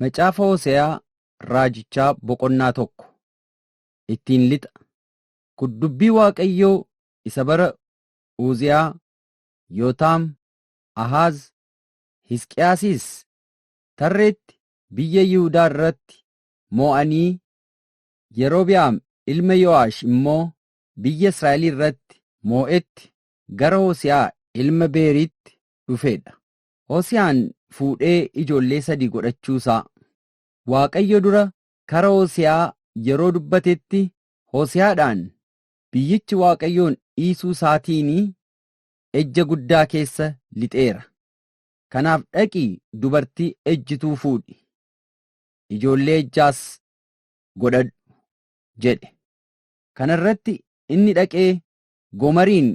Macaafa Hose'aa Raajichaa boqonnaa tokko ittiin lixa kun dubbii Waaqayyoo isa bara Uuziyaa, Yootaam, Ahaaz, Hisqiyaasis tarreetti biyya Yihudaa irratti moo'anii Yerobi'aam ilma Yo'aash immoo biyya Israa'el irratti moo'etti gara Hose'aa ilma Beeriitti dhufeedha. Hosiyaan fuudhee ijoollee sadii godhachuu isaa. Waaqayyo dura kara Hosiyaa yeroo dubbatetti Hosiyaadhaan biyyichi Waaqayyoon dhiisuu isaatiinii ejja guddaa keessa lixeera. Kanaaf dhaqii dubartii ejjituu fuudhi, ijoollee ejjaas godhadhu jedhe. Kana irratti inni dhaqee Gomariin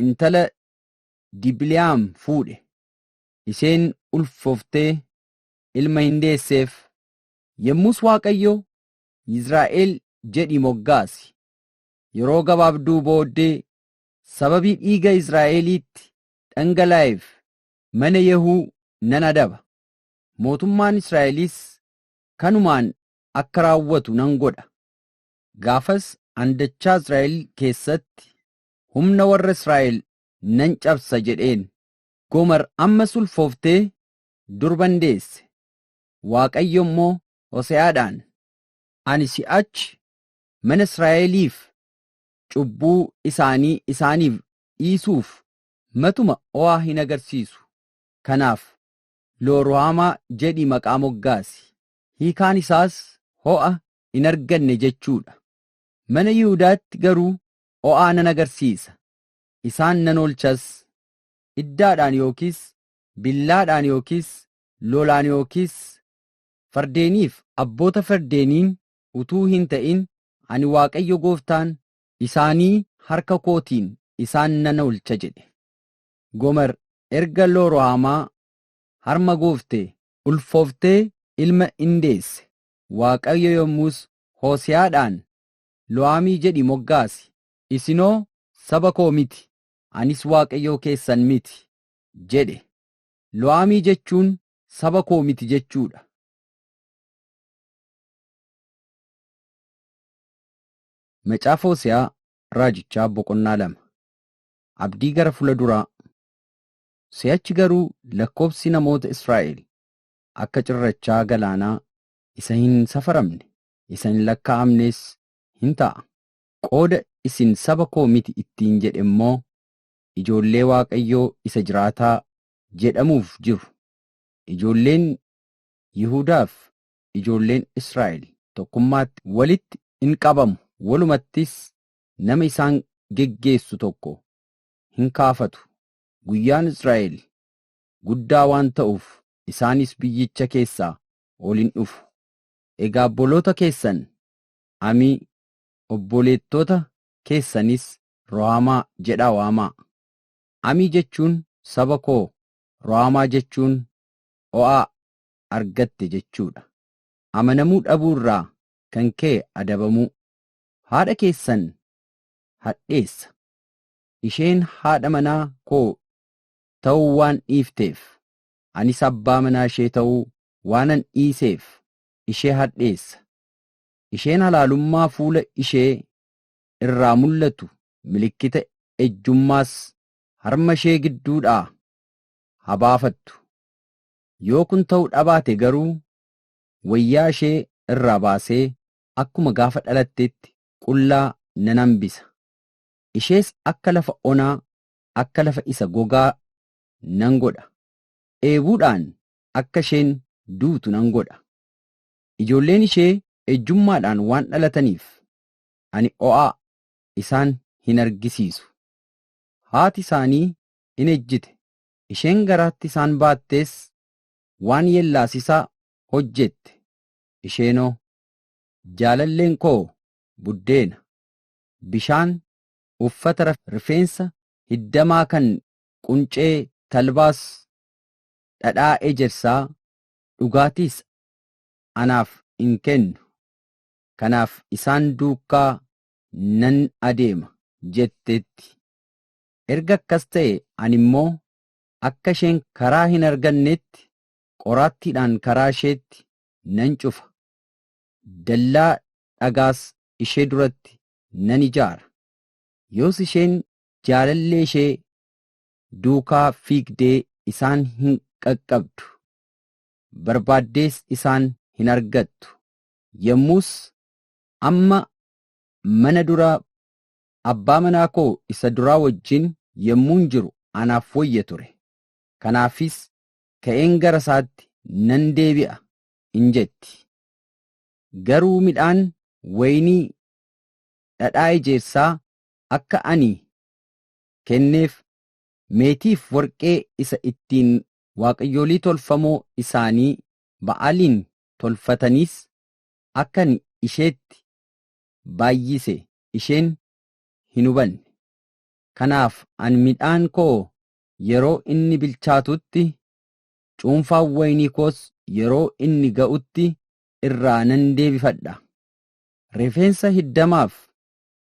intala Dibiliyaam fuudhe. Isheen ulfoftee ilma hin deesseef. Yemmus Waaqayyo, Yizraa'el jedhii moggaasi. Yeroo gabaabduu booddee sababii dhiiga Israa'eliitti dhangalaa'eef mana Yehuu nan adaba. Mootummaan Israa'elis kanumaan akka raawwatu nan godha. Gaafas an dachaa Israa'el keessatti humna warra Israa'el nan cabsa jedheen. Gomer ammas ulfooftee durban deesse. Waaqayyo immoo Hose'aadhaan, Ani si'achi mana Israa'eliif cubbuu isaanii isaaniif dhiisuuf matuma o'aa hin agarsiisu. Kanaaf Looruhaamaa jedhii maqaa moggaasi. Hiikaan isaas ho'a hin arganne jechuu dha. Mana Yihudaatti garuu o'aa nan agarsiisa isaan nan oolchas, iddaadhaan yookiis billaadhaan yookiis lolaan yookiis fardeeniif abboota fardeeniin utuu hin ta'in ani Waaqayyo gooftaan isaanii harka kootiin isaan nan oolcha jedhe. Gomer erga Looruhaamaa harma gooftee. ulfooftee ilma in deesse. Waaqayyo yommus Hose'aadhaan, Lo'aamii jedhii moggaasi, Isinoo saba koo miti, anis Waaqayyoo keessan miti jedhe. Lo'aamii jechuun saba koo miti jechuu dha. Macaafa Hose'aa Raajichaa boqonnaa 2 Abdii gara fula duraa Si'achi garuu lakkoobsi namoota Israa'el akka cirrachaa galaanaa isa hin safaramne, isa hin lakkaa'amnees hin ta'a. Qooda isin saba koo miti ittiin jedhe immoo ijoollee Waaqayyoo isa jiraataa jedhamuuf jiru. Ijoolleen Yihudaaf ijoolleen Israa'el tokkummaatti walitti in qabamu, walumattis nama isaan geggeessu tokko hin kaafatu. Guyyaan Israa'el guddaa waan ta'uuf isaanis biyyicha keessaa ol in dhufu. Egaa obboloota keessan Amii, obboleettota keessanis Rohaamaa jedhaa waamaa. Amii jechuun saba koo, Rohaamaa jechuun o'aa argatte jechuu dha. Amanamuu dhabuu irraa kan ka'e adabamuu. Haadha keessan hadheessa. Isheen haadha manaa koo ta'uu waan dhiifteef, anis abbaa manaa ishee ta'uu waanan dhiiseef ishee hadheessa isheen halaalummaa fuula ishee irraa mul'atu milikkita ejjummaas harma ishee gidduudhaa haa baafattu, yoo kun ta'uu dhabaate garuu wayyaa ishee irraa baasee akkuma gaafa dhalatteetti qullaa nan hambisa, ishees akka lafa onaa, akka lafa isa gogaa nan godha, dheebuudhaan akka isheen duutu nan godha. Ijoolleen ishee ejjummaadhaan waan dhalataniif ani o'aa isaan hin argisiisu. Haati isaanii in ejjite, isheen garaatti isaan baattees waan yeellaasisaa hojjette, isheenoo, Jaalalleen koo buddeena, bishaan, uffata rifeensa hiddamaa kan quncee talbaas, dhadhaa ejersaa, dhugaatiis anaaf in kennu, kanaaf isaan duukaa nan adeema jetteetti. Erga akkas ta'e ani immoo akka isheen karaa hin arganneetti qoraattiidhaan karaa isheetti nan cufa, dallaa dhagaas ishee duratti nan ijaara, yoos isheen jaalallee ishee duukaa fiigdee isaan hin qaqqabdu. barbaaddees isaan hin argattu. Yommus, Amma mana dura abbaa manaa koo isa duraa wajjin yommuun jiru anaaf wayya ture, kanaafis ka'een gara isaatti nan deebi'a in jetti. Garuu midhaan wayinii dhadhaa ejersaa akka ani kenneef, meetiif warqee isa ittiin waaqayyolii tolfamoo isaanii Ba'aaliin tolfataniis akka ani isheetti baay'ise isheen hin hubanne. Kanaaf ani midhaan koo yeroo inni bilchaatutti, cuunfaan wayinii koos yeroo inni ga'utti irraa nan deebifadha. Rifeensa hiddamaaf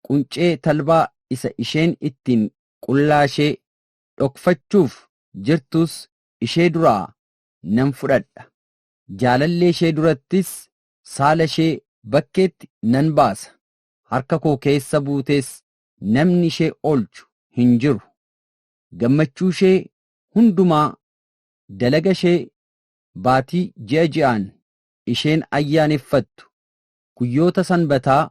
quncee talbaa isa isheen ittiin qullaashee dhokfachuuf jirtus ishee duraa nan fudhadha. Jaalallee ishee durattis saala ishee bakkeetti nan baasa. Harka koo keessa buutees namni ishee oolchu hin jiru. Gammachuu ishee hundumaa, dalaga ishee baatii ji'a ji'aan isheen ayyaaneffattu, guyyoota sanbataa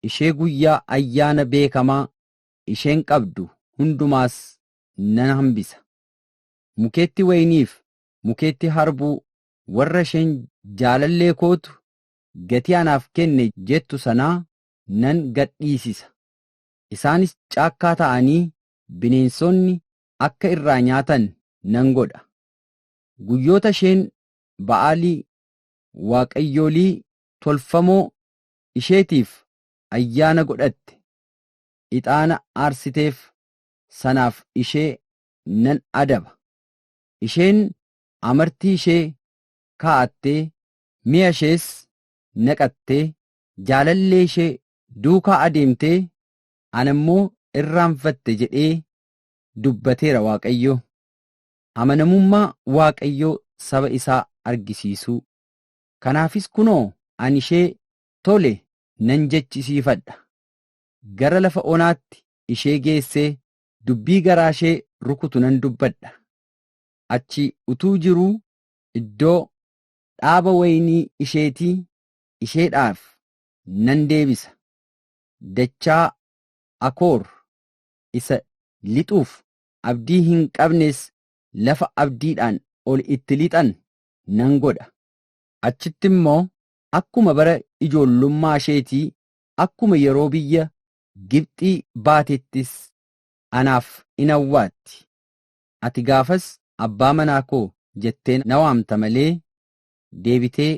ishee guyyaa ayyaana beekamaa isheen qabdu hundumaas nan hambisa. Mukeetti wayiniif mukeetti harbuu warra isheen jaalallee kootu gatii anaaf kenne jettu sanaa nan gad dhiisisa. Isaanis caakkaa ta'anii bineensonni akka irraa nyaatan nan godha. Guyyoota isheen Ba'aalii, waaqayyolii tolfamoo isheetiif ayyaana godhatte, ixaana aarsiteef sanaaf ishee nan adaba. Isheen amartii ishee kaa'attee, mi'a ishees naqattee, jaalallee ishee duukaa adeemtee, ana immoo irraanfatte jedhee dubbateera Waaqayyo. Amanamummaa Waaqayyoo saba isaa argisiisuu. Kanaafis kunoo ani ishee tole nan jechisiifadha, gara lafa onaatti ishee geessee dubbii garaashee rukutu nan dubbadha. Achi utuu jiruu iddoo dhaaba wayinii isheetii isheedhaaf nan deebisa, dachaa Akoor isa lixuuf abdii hin qabnes lafa abdiidhaan ol itti lixan nan godha. Achitti immoo akkuma bara ijoollummaa isheetii, akkuma yeroo biyya Gibxii baateettis anaaf in awwaatti. Ati gaafas abbaa manaa koo jettee na waamta malee, deebitee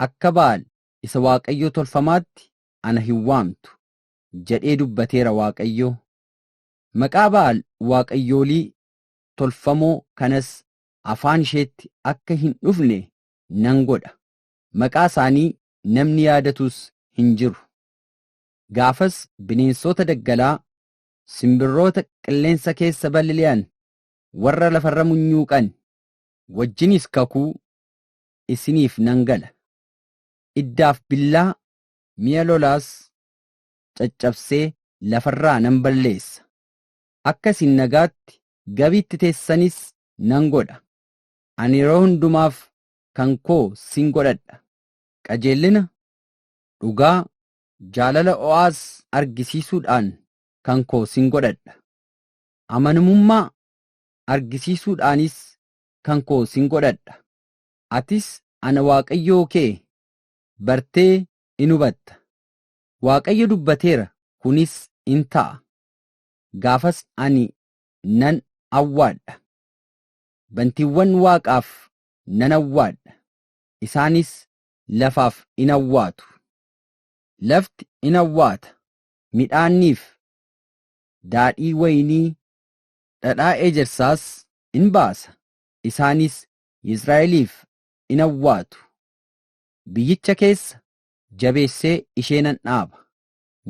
akka Ba'aal isa waaqayyoo tolfamaatti ana hin waamtu jedhee dubbateera Waaqayyo. Maqaa Ba'aal waaqayyoolii tolfamoo kanas afaan isheetti akka hin dhufne nan godha, maqaa isaanii namni yaadatus hin jiru. Gaafas bineensoota daggalaa, simbirroota qilleensa keessa balili'an, warra lafarra munyuuqan wajjinis kakuu isiniif nan gala. Iddaaf billaa, mi'a lolaas caccabsee lafarraa nan balleessa. Akka isin nagaatti Gabiitti teessanis nan godha. Ani yeroo hundumaaf kan koo sin godhadha. Qajeellina, dhugaa, Jaalala o'aas argisiisuudhaan kan koo sin godhadha. Amanamummaa argisiisuudhaanis kan koo sin godhadha. Atis ana Waaqayyoo kee bartee in hubatta. Waaqayyo dubbateera kunis in ta'a. Gaafas ani nan awwaadha. Bantiiwwan waaqaaf nan awwaadha, isaanis lafaaf in awwaatu. Lafti in awwaata, midhaanniif daadhii waynii, dhadhaa ejersaas in baasa, isaanis Yisraa'eliif in awwaatu. Biyyicha keessa jabeessee ishee nan dhaaba,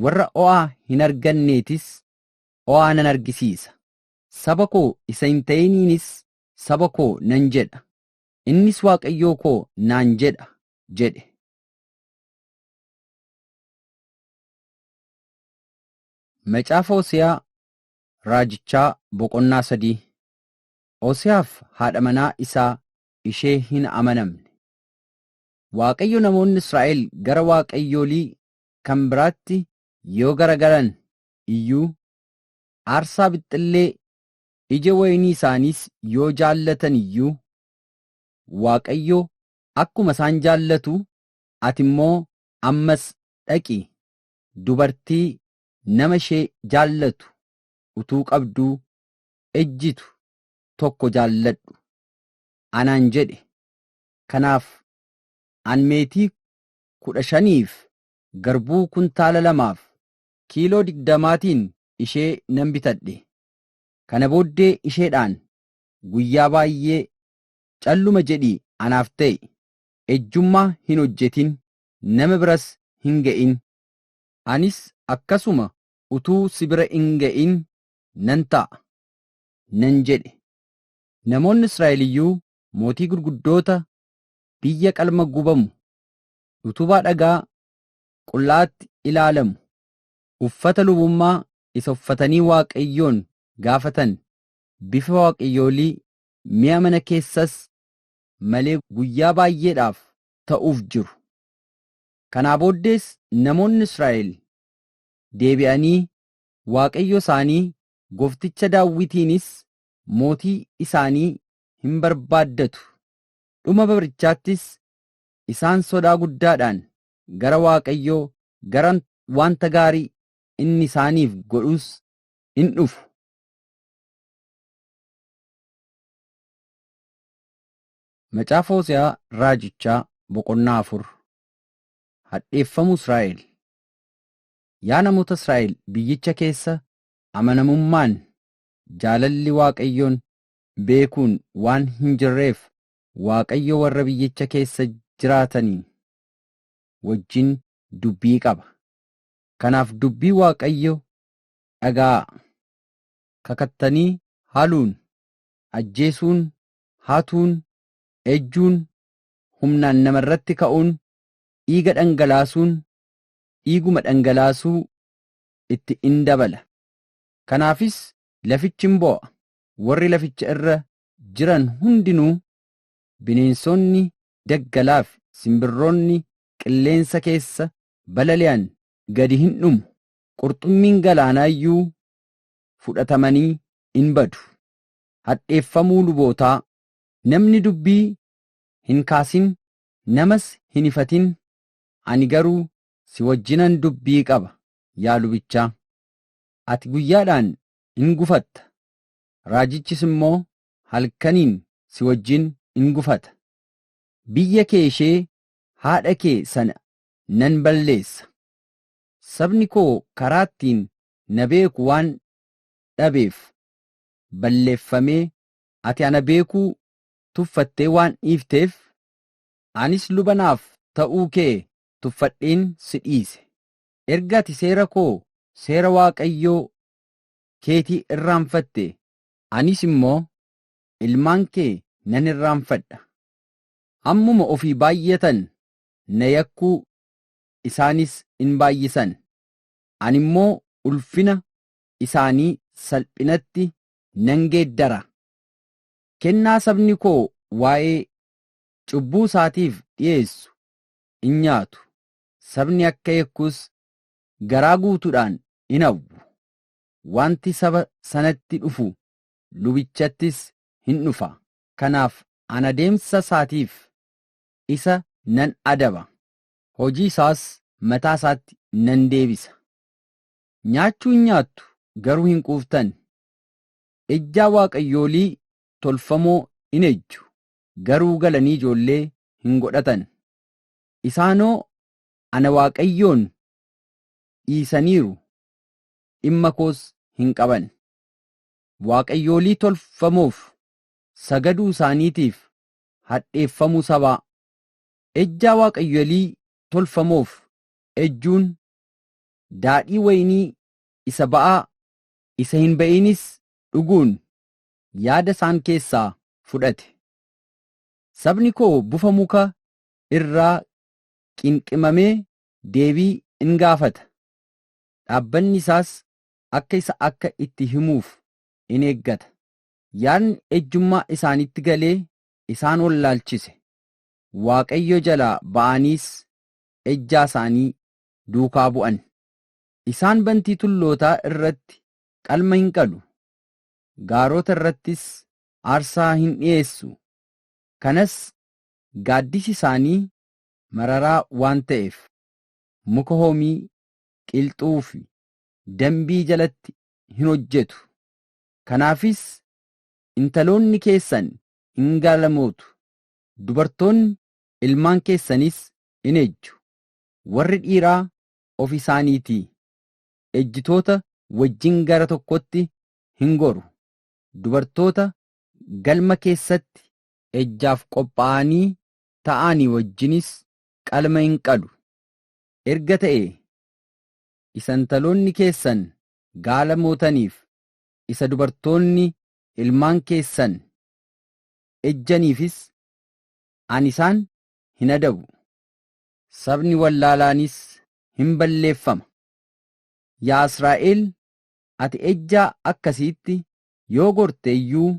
warra o'aa hin arganneetis o'aa nan argisiisa, saba koo isa hin ta'iniinis saba koo nan jedha, innis Waaqayyoo koo naan jedha jedhe. Macaafa Hose'aa Raajichaa boqonnaa sadii Hose'aaf haadha manaa isaa ishee hin amanamne. Waaqayyo namoonni Israa'el gara waaqayyoolii kan biraatti yoo garagalan iyyuu, aarsaa bixxillee ija wayinii isaaniis yoo jaallatan iyyuu, Waaqayyo akkuma isaan jaallatu ati immoo ammas dhaqii dubartii nama ishee jaallatu utuu qabduu ejjitu tokko jaalladhu anaan jedhe, kanaaf an meetii kudha shaniif garbuu kuntaala lamaaf kiiloo digdamaatiin ishee nan bitadhe, kana booddee isheedhaan guyyaa baay'ee calluma jedhii anaaf ta'i ejjummaa hin hojjetin nama biras hin ga'in anis akkasuma utuu si bira hin ga'in nan ta'a nan jedhe namoonni Israa'el iyyuu mootii gurguddoota biyya qalma gubamu utubaa dhagaa qulla'aatti ilaalamu uffata lubummaa isa uffatanii Waaqayyoon gaafatan bifa waaqayyoolii Mi'a mana keessas malee guyyaa baay'eedhaaf ta'uuf jiru. Kanaa booddees namoonni Israa'el deebi'anii Waaqayyo isaanii gofticha Daawwitiinis mootii isaanii hin barbaaddatu, dhuma barichaattis isaan sodaa guddaadhaan gara Waaqayyoo gara wanta gaarii inni isaaniif godhuus in dhufu. Macaafa Hose'aa Raajichaa boqonnaa afur Hadheeffamuu Israa'el Yaa namoota Israa'el biyyicha keessa amanamummaan jaalalli Waaqayyoon beekuun waan hin jirreef Waaqayyo warra biyyicha keessa jiraatanii wajjin dubbii qaba. Kanaaf dubbii Waaqayyo dhaga'aa. kakattanii haaluun, ajjeesuun, hatuun, ejjuun, humnaan nama irratti ka'uun, dhiiga dhangalaasuun, dhiiguma dhangalaasuu itti in dabala. Kanaafis lafichi in boo'a, warri laficha irra jiran hundinuu, bineensoonni daggalaa fi simbirroonni qilleensa keessa balali'an gadi hin dhumu, qurxummiin galaanaa iyyuu fudhatamanii in badu. Hadheeffamuu lubootaa, Namni dubbii hin kaasin, namas hin ifatin, ani garuu si wajjinan dubbii qaba, yaa lubichaa. Ati guyyaadhaan in gufatta, raajichis immoo halkaniin si wajjin in gufata. Biyya kee ishee haadha kee sana nan balleessa. Sabni koo karaa ittiin na beeku waan dhabeef balleffamee ati ana beekuu tuffattee waan dhiifteef anis luba naaf ta'uu kee tuffadheen si dhiise. Erga ati seera koo seera Waaqayyoo keetii irraanfatte anis immoo ilmaan kee nan irraanfadha. Hammuma ofii baay'atan na yakkuu isaanis in baay'isan. ani immoo ulfina isaanii salphinatti nan geeddara. Kennaa sabni koo waa'ee cubbuu isaatiif dhi'eessu in nyaatu, sabni akka yakkus garaa guutuudhaan in hawwu. Wanti saba sanatti dhufu lubichattis in dhufa. Kanaaf an adeemsa isaatiif isa nan adaba, hojii isaas mataa isaatti nan deebisa. Nyaachuu in nyaattu, garuu hin quuftan, ejjaa waaqayyoolii tolfamoo in ejju, garuu galanii ijoollee hin godhatan. Isaanoo ana Waaqayyoon dhiisaniiru, dhimma koos hin qaban. Waaqayyoolii tolfamoof sagaduu isaaniitiif hadheeffamuu sabaa, Ejjaa waaqayyolii tolfamoof ejjuun, daadhii wayinii isa ba'aa, isa hin ba'iinis dhuguun yaada isaan keessaa fudhate. Sabni koo bufa muka irraa qinqimamee deebii in gaafata, dhaabbanni isaas akka isa akka itti himuuf in eeggata. Yaadni ejjummaa isaanitti galee isaan wallaalchise, Waaqayyo jalaa ba'aaniis ejjaa isaanii duukaa bu'an. Isaan bantii tullootaa irratti qalma hin qalu, gaarota irrattis aarsaa hin dhi'eessu, kanas gaaddisi isaanii mararaa waan ta'eef, muka hoomii, qilxuu fi dambii jalatti hin hojjetu. Kanaafis intaloonni keessan in gaalamootu, Dubartoonni ilmaan keessaniis in ejju, warri dhiiraa of isaaniitii ejjitoota wajjin gara tokkotti hin goru, dubartoota galma keessatti ejjaaf qophaa'anii ta'aanii wajjinis qalma in qalu, erga ta'ee isa intaloonni keessan gaala mootaniif, isa dubartoonni ilmaan keessan ejjaniifis ani isaan hin adabu. Sabni wallaalaanis hin balleeffama. Yaa Israa'el, ati ejjaa akkasiitti yoo gorte iyyuu,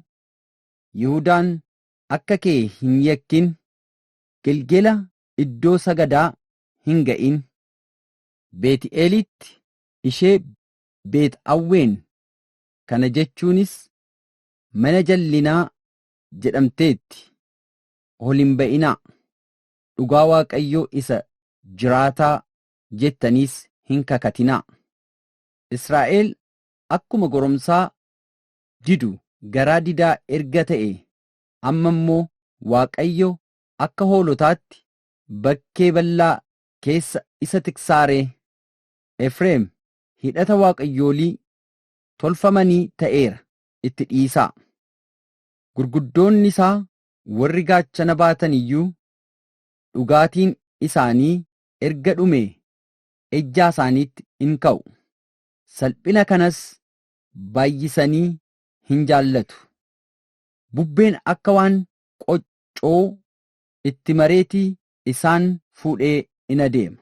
Yihudaan akka kee hin yakkin, Gelgela iddoo sagadaa hin ga'in. Beet'eelitti ishee Beet Awween, kana jechuunis mana jallinaa jedhamteetti. Ol hin ba'inaa. Dhugaa Waaqayyoo isa jiraataa jettaniis hin kakatinaa. Israa'el akkuma goromsaa didu garaa didaa erga ta'e amma immoo Waaqayyo akka hoolotaatti bakkee bal'aa keessa isa tiksaa ree? Efreem hidhata waaqayyoolii tolfamanii ta'eera, itti dhiisaa. Gurguddoonni isaa warri gaachana baatan iyyuu dhugaatiin isaanii erga dhumee ejjaa isaaniitti in ka'u, salphina kanas baay'isanii hin jaallatu. Bubbeen akka waan qoccoo itti mareeti isaan fuudhee in adeema.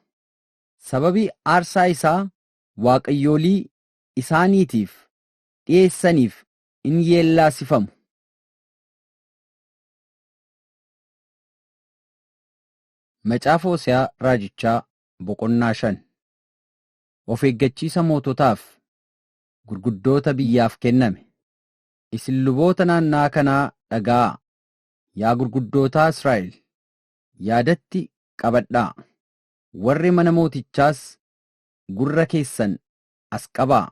Sababii aarsaa isaa waaqayyoolii isaaniitiif dhiyeessaniif in yeellaasifamu. Macaafa Hose'aa Raajichaa boqonnaa 5 Of eeggachiisa moototaaf, gurguddoota biyyaaf kenname. Isin luboota naanna'aa kanaa dhaga'aa, yaa gurguddootaa Israa'el, yaadatti qabadhaa, warri mana mootichaas gurra keessan as qabaa.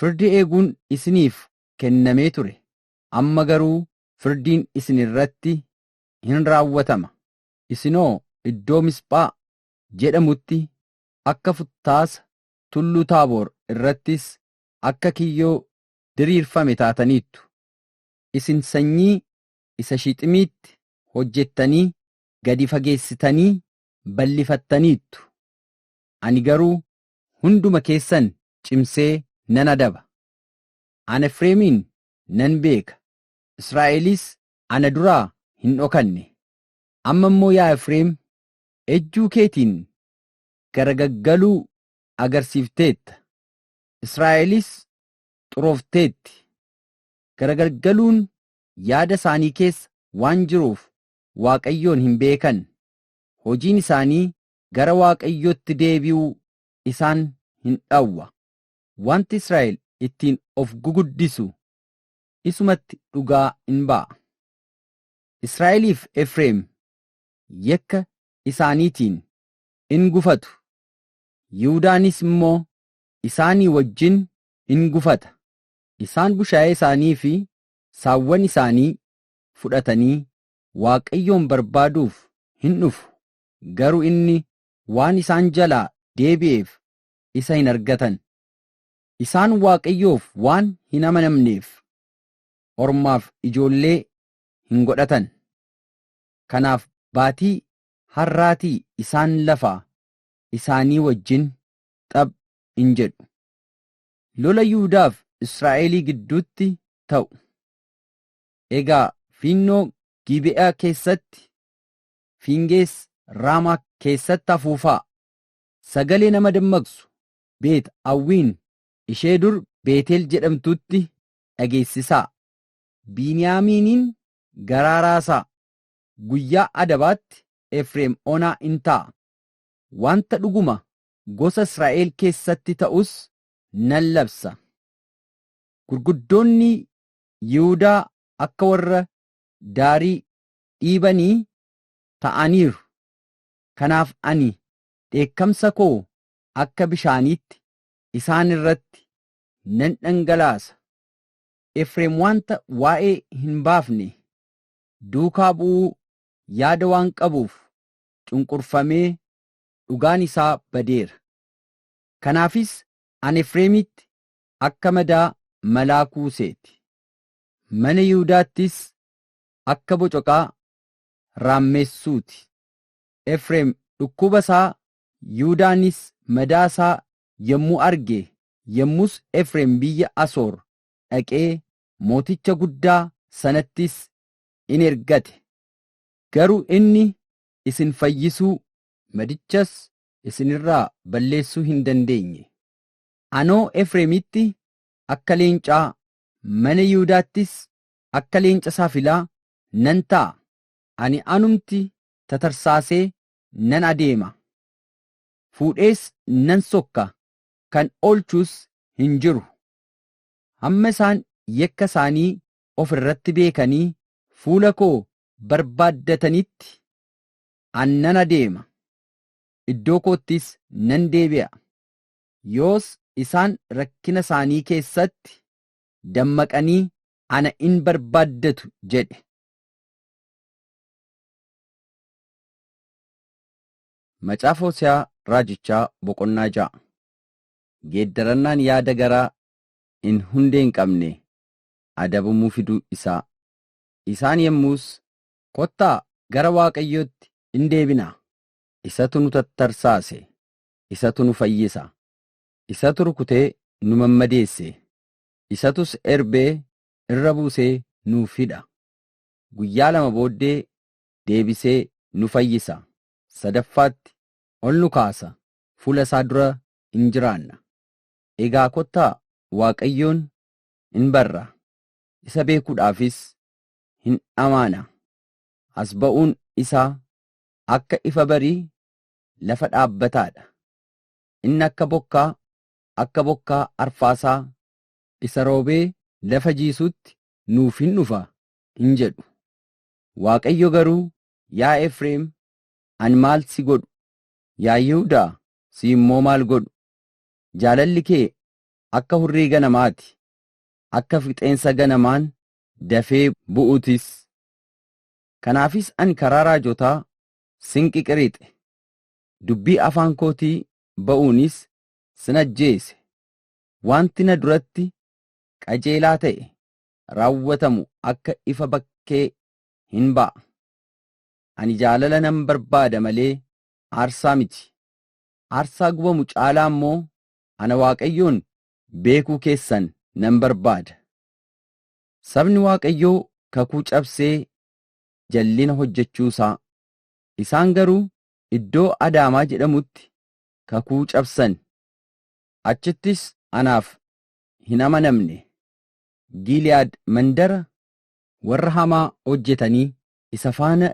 Firdi eeguun isiniif kennamee ture, amma garuu firdiin isin irratti in raawwatama, isinoo iddoo Misphaa jedhamutti akka futtaasa, tulluu Taaboor irrattis akka kiyyoo diriirfame taataniittu. Isin sanyii isa Shiiximiitti hojjettanii gadi fageessitanii bal'ifattaniittu, ani garuu hunduma keessan cimsee nan adaba. An Efreemiin nan beeka, Israa'elis ana duraa hin dhokanne. Amma immoo yaa Efreem, ejjuu keetiin garagaggaluu agarsiifteetta, Israa'elis xuroofteetti. Garagargaluun yaada isaanii keessa waan jiruuf Waaqayyoon hin beekan, hojiin isaanii gara Waaqayyootti deebi'uu isaan hin dhawwa. Wanti Israa'el ittiin of guguddisu isumatti dhugaa in ba'a. Israa'eliif Efreem yakka isaaniitiin in gufatu, Yihudaanis immoo isaanii wajjin in gufata, isaan bushaayee isaanii fi saawwan isaanii fudhatanii Waaqayyoon barbaaduuf hin dhufu. garu inni waan isaan jalaa deebi'eef isa hin argatan. Isaan Waaqayyoof waan hin amanamneef, ormaaf ijoollee hin godhatan. Kanaaf baatii harraatii isaan lafaa isaanii wajjin xab in jedhu. Lola Yihudaaf Israa'elii gidduutti ta'u. Egaa fiinnoo Giibe'aa keessatti Fiingees Raamaa keessatti afuufaa. Sagalee nama dammaqsu Beet Awwiin ishee dur Beetel jedhamtuutti dhageessisaa. Biiniyaamiiniin garaa raasaa. Guyyaa adabaatti Efreem onaa in ta'a. Wanta dhuguma gosa Israa'el keessatti ta'us nan labsa. Gurguddoonni Yihudaa akka warra daarii dhiibanii ta'aniiru. Kanaaf ani dheekkamsa koo akka bishaaniitti isaan irratti nan dhangalaasa. Efreem wanta waa'ee hin baafne duukaa bu'uu yaada waan qabuuf cunqurfamee dhugaan isaa badeera. Kanaafis ani Efreemitti akka madaa malaa kuusee ti, mana Yihudaattis akka bocoqaa raammeessuu ti. Efreem dhukkuba isaa, Yihudaanis madaa isaa yommuu arge, yommus Efreem biyya Asoor dhaqee mooticha guddaa sanattis in ergate, garuu inni isin fayyisuu, madichas isin irraa balleessuu hin dandeenye. Anoo Efreemitti akka leencaa, mana Yihudaattis akka leenca saafilaa nan ta'a, ani anumti tatarsaasee nan adeema, fuudhees nan sokka, kan oolchus hin jiru. Hamma isaan yakka isaanii of irratti beekanii fuula koo barbaaddatanitti an nan adeema, iddoo koottis nan deebi'a. Yoos isaan rakkina isaanii keessatti dammaqanii ana in barbaaddatu jedhe. Macaafa Hose'aa Raajichaa boqonnaa ja'a. Geeddarannaan yaada garaa in hundee hin qabne adabamuu fiduu isaa. Isaan yemmuus, Kottaa gara Waaqayyootti in deebinaa, isatu nu tattarsaase, isatu nu fayyisa, isatu rukutee nu mammadeesse, isatus erbee irra buusee nuuf hidha, guyyaa lama booddee deebisee nu fayyisa, sadaffaatti ol nu kaasa, fuula isaa dura in jiraanna. Egaa kottaa Waaqayyoon in barra, isa beekuudhaafis hin dhamaana, as ba'uun isaa akka ifa barii lafa dhaabbataa dha, inni akka bokkaa, akka bokkaa arfaasaa. isa roobee lafa jiisuutti nuuf hin dhufa hin jedhu. Waaqayyo garuu, Yaa Efreem, ani maal si godhu? Yaa Yihudaa, si immoo maal godhu? Jaalalli kee akka hurrii ganamaa ti, akka fixeensa ganamaan dafee bu'uu tis. Kanaafis ani karaa raajotaa sin qiqirixe, dubbii afaan kootii ba'uunis sin ajjeese, wanti na duratti qajeelaa ta'e raawwatamu akka ifa bakkee hin ba'a. Ani jaalala nan barbaada malee aarsaa miti, aarsaa gubamu caalaa immoo ana Waaqayyoon beekuu keessan nan barbaada. Sabni Waaqayyoo kakuu cabsee jallina hojjechuu isaa, isaan garuu iddoo Adaamaa jedhamutti kakuu cabsan. Achittis anaaf hin amanamne. Giiliyaad mandara warra hamaa hojjetanii isa faana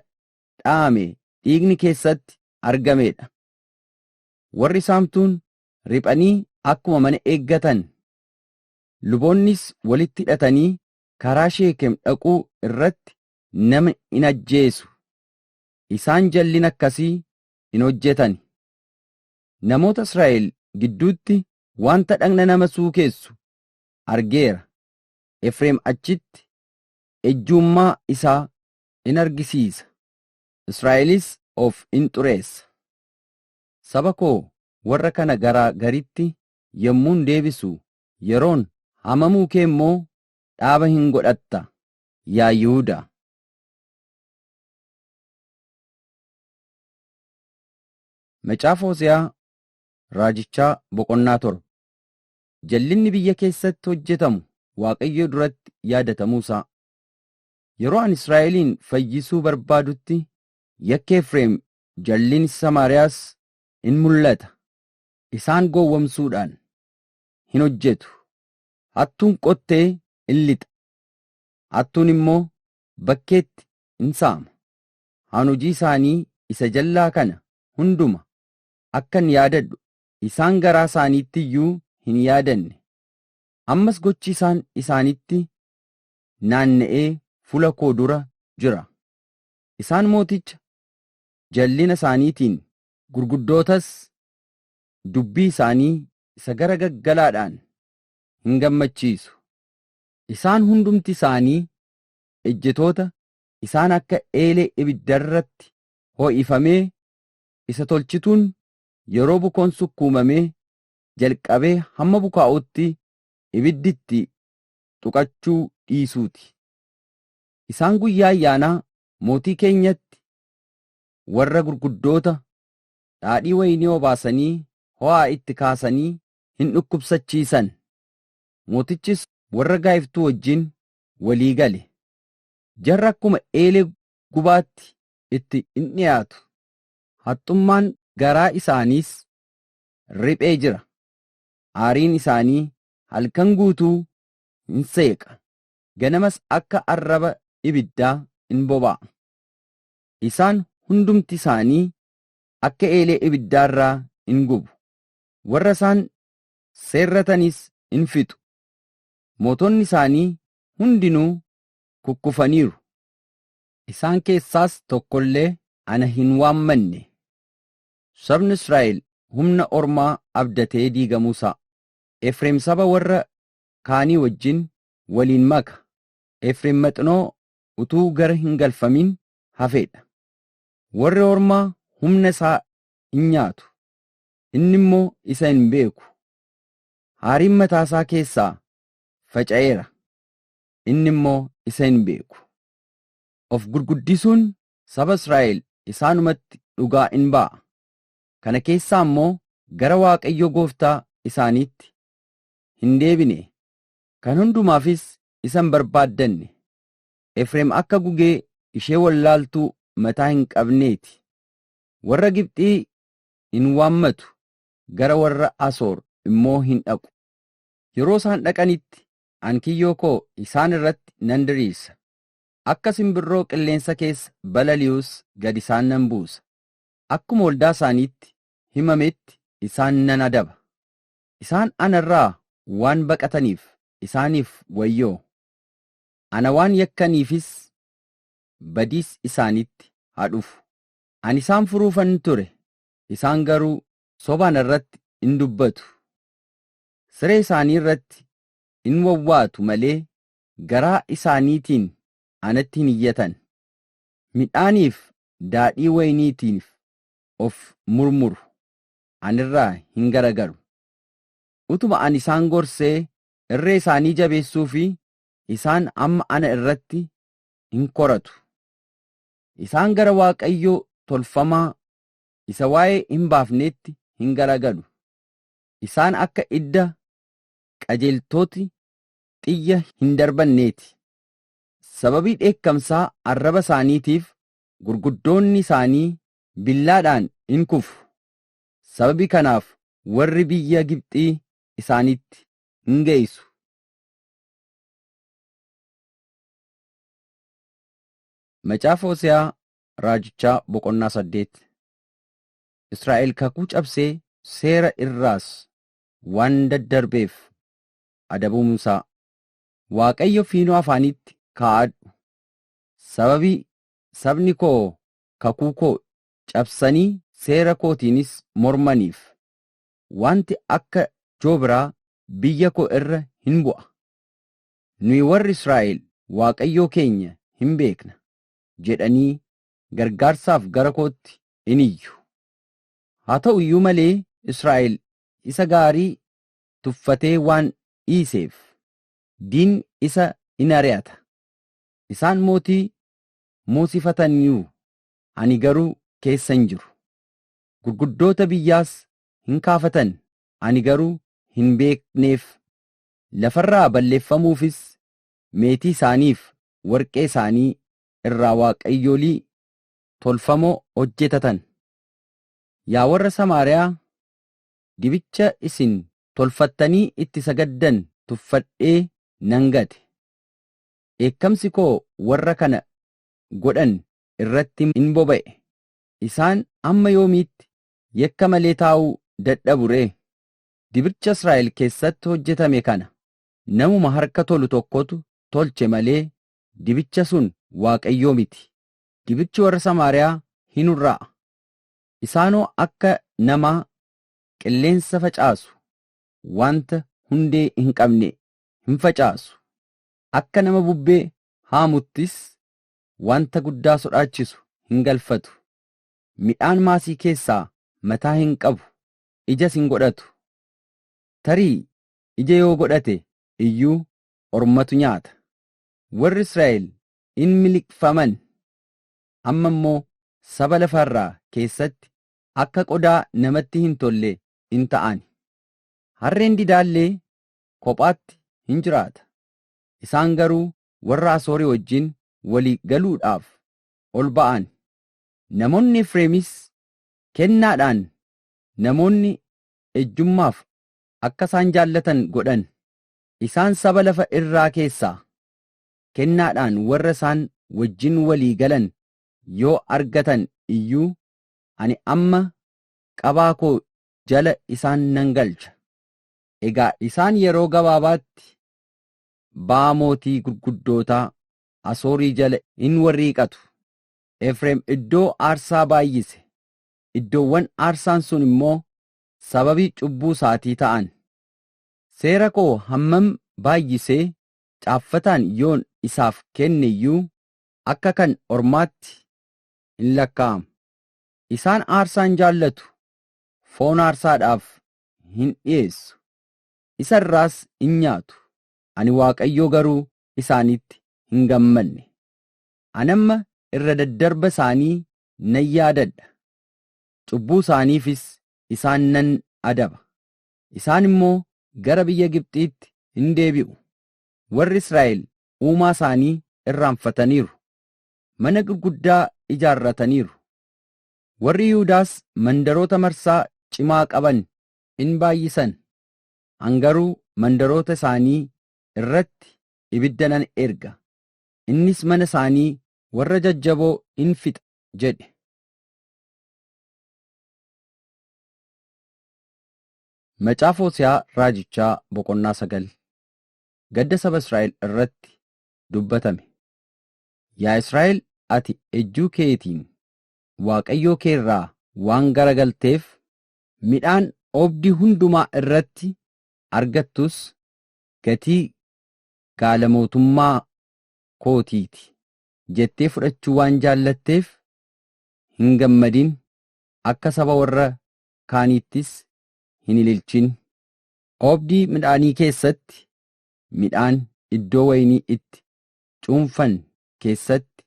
dha'ame dhiigni keessatti argamee dha. Warri saamtuun riphanii akkuma mana eeggatan, luboonnis walitti hidhatanii karaa Sheekem dhaquu irratti nama in ajjeesu. Isaan jallina akkasii hin hojjetani. Namoota Israa'el gidduutti wanta dhagna nama suukeessu argeera, Efreem achitti ejjuummaa isaa in argisiisa, Israa'elis of in xureessa. Saba koo warra kana garaa garitti yommuun deebisu, yeroon haamamuu kee immoo dhaaba in godhatta, yaa Yihudaa. Macaafa Hose'aa Raajichaa boqonnaa torba. Jallinni biyya keessatti hojjetamu Waaqayyo duratti yaadatamuu isaa. Yeroo ani Israa'eliin fayyisuu barbaadutti yakki Efreem jallinni Samaariyaas in mul'ata. Isaan gowwomsuudhaan hin hojjetu. Hattuun qottee in lixa. Hattuun immoo bakkeetti in saama, an hojii isaanii isa jal'aa kana hunduma akkan yaadadhu isaan garaa isaaniitti iyyuu hin yaadanne, ammas gochi isaan isaanitti naanna'ee fuula koo dura jira, isaan mooticha jal'ina isaaniitiin. gurguddootas dubbii isaanii isa gara gaggalaadhaan in gammachiisu, isaan hundumti isaanii ejjetoota isaan akka eelee ibiddarratti ho'ifamee isa tolchituun yeroo bukoon sukkuumamee jalqabee hamma bukaa'utti ibiddi itti tuqachuu dhiisuuti. Isaan guyyaa ayyaanaa mootii keenyatti warra gurguddoota dhaadhii wayinii obaasanii ho'aa itti kaasanii hin dhukkubsachiisan. Mootichis warra gaa'iftuu wajjin walii gale. Jarri akkuma eelee gubaatti itti in dhi'aatu, haxxummaan garaa isaaniis riphee jira, aariin isaanii halkan guutuu in seeqa, ganamas akka arraba ibiddaa in boba'a. Isaan hundumti isaanii akka eelee ibiddaa irraa in gubu, warra isaan seerratanis in fixu, mootonni isaanii hundinuu kukkufaniiru, isaan keessaas tokko illee ana hin waammanne. Sabni Israa'el humna ormaa abdatee diigamuu isaa, Efreem saba warra kaanii wajjin waliin maka, Efreem maxinoo utuu gara hin galfamin hafee dha. Warri ormaa humna isaa in nyaatu, inni immoo isa hin beeku. Haariin mataa isaa keessaa faca'eera, inni immoo isa hin beeku. Of gurguddisuun saba Israa'el isaanumatti dhugaa in ba'a, kana keessaa immoo gara Waaqayyo gooftaa isaaniitti hin deebine, kan hundumaafis isa hin barbaaddanne. Efreem akka gugee ishee wallaaltuu mataa hin qabnee ti, warra Gibxii in waammatu, gara warra Asoor immoo hin dhaqu. Yeroo isaan dhaqanitti ani kiyyoo koo isaan irratti nan diriirsa, akka simbirroo qilleensa keessa balali'us gad isaan nan buusa, akkuma waldaa isaaniitti himametti isaan nan adaba. Isaan ana irraa waan baqataniif isaaniif wayyoo! Ana waan yakkaniifis badiis isaanitti haa dhufu. Ani isaan furuufan ture, isaan garuu soba ana irratti in dubbatu, siree isaanii irratti in wawwaatu malee garaa isaaniitiin anatti hin iyyatan, midhaaniif daadhii wayiniitiif of murmuru, ani irraa hin garagalu. Utuma ani isaan gorsee irree isaanii jabeessuufii isaan amma ana irratti in koratu. Isaan gara waaqayyoo tolfamaa isa waa'ee hin baafneetti hin garagalu. Isaan akka idda qajeeltoti xiyya hin darbanneeti. Sababii dheekkamsaa arraba isaaniitiif gurguddoonni isaanii billaadhaan in kufu, sababii kanaaf warri biyya Gibxii isaanitti in geessu. Macaafa Hose'aa Raajichaa boqonnaa saddeet Israa'el kakuu cabsee seera irraas waan daddarbeef adabamuunsaa Waaqayyo fiinoo afaaniitti kaa'adhu sababii sabni koo kakuu koo cabsanii seera kootiinis mormaniif wanti akka joobiraa biyya koo irra hin bu'a. Nuyi warri Israa'el Waaqayyoo keenya hin beekna, jedhanii gargaarsaaf gara kootti in iyyu. Haa ta'u iyyuu malee Israa'el isa gaarii tuffatee waan dhiiseef, diinni isa in ari'ata. Isaan mootii moosifataniiru, ani garuu keessa hin jiru. Gurguddoota biyyaas in kaafatan, ani garuu hin beekneef. Lafarraa balleeffamuufis meetii isaaniif warqee isaanii irraa waaqayyolii tolfamoo hojjetatan. Yaa warra Samaariyaa, dibicha isin tolfattanii itti sagaddan tuffadhee nan gate. Dheekkamsi koo warra kana godhan irratti in boba'e, isaan hamma yoomiitti yakka malee taa'uu dadhabu ree? Dibicha Israa'el keessatti hojjetame kana namuma harka tolu tokkotu tolche malee dibicha sun Waaqayyoo miti. Dibichi warra Samaariyaa hin hurraa'a. Isaanoo akka namaa qilleensa facaasu, wanta hundee hin qabne hin facaasu. Akka nama bubbee haamuttis wanta guddaa sodaachisu hin galfatu. Midhaan maasii keessaa mataa hin qabu, ijas hin godhatu. Tarii ija yoo godhate iyyuu ormatu nyaata. Warri Israa'el in miliqfaman, amma immoo saba lafa irraa keessatti akka qodaa namatti hin tolle in ta'an. Harreen didaa illee kophaatti in jiraata, isaan garuu warra Asoorii wajjin walii galuudhaaf ol ba'an. Namoonni Efreemis kennaadhaan namoonni ejjummaaf akka isaan jaallatan godhan, Isaan saba lafa irraa keessaa kennaadhaan warra isaan wajjin walii galan yoo argatan iyyuu, ani amma qabaa koo jala isaan nan galcha. Egaa isaan yeroo gabaabaatti ba'aa mootii gurguddootaa Asoorii jala in warriiqatu. Efreem iddoo aarsaa baay'ise, iddoowwan aarsaan sun immoo sababii cubbuu isaatii ta'an. Seera koo hammam baay'isee caaffataan yoon isaaf kenne iyyuu, akka kan ormaatti in lakkaa'ama. Isaan aarsaa in jaallatu, foon aarsaadhaaf in dhi'eessu, isa irraas in nyaatu, ani Waaqayyo garuu isaanitti hin gammadne. Ani amma irra daddarba isaanii nan yaadadha, cubbuu isaaniifis isaan nan adaba. isaan immoo gara biyya Gibxiitti in deebi'u. Warri Israa'el Uumaa isaanii irraanfataniiru, mana gurguddaa ijaarrataniiru. Warri Yihudaas mandaroota marsaa cimaa qaban in baay'isan, an garuu mandaroota isaanii irratti ibidda nan erga, innis mana isaanii warra jajjaboo in fixa jedhe. Macaafa Hose'aa Raajichaa boqonnaa 9 Gadda saba Israa'el irratti dubbatame. Yaa Israa'el ati ejjuu keetiin Waaqayyoo kee irraa waan garagalteef, midhaan oobdii hundumaa irratti argattus gatii gaala mootummaa kootii ti jettee fudhachuu waan jaallatteef hin gammadin, akka saba warra kaaniittis hin ililchin. Oobdii midhaanii keessatti, midhaan iddoo wayinii itti cuunfan keessatti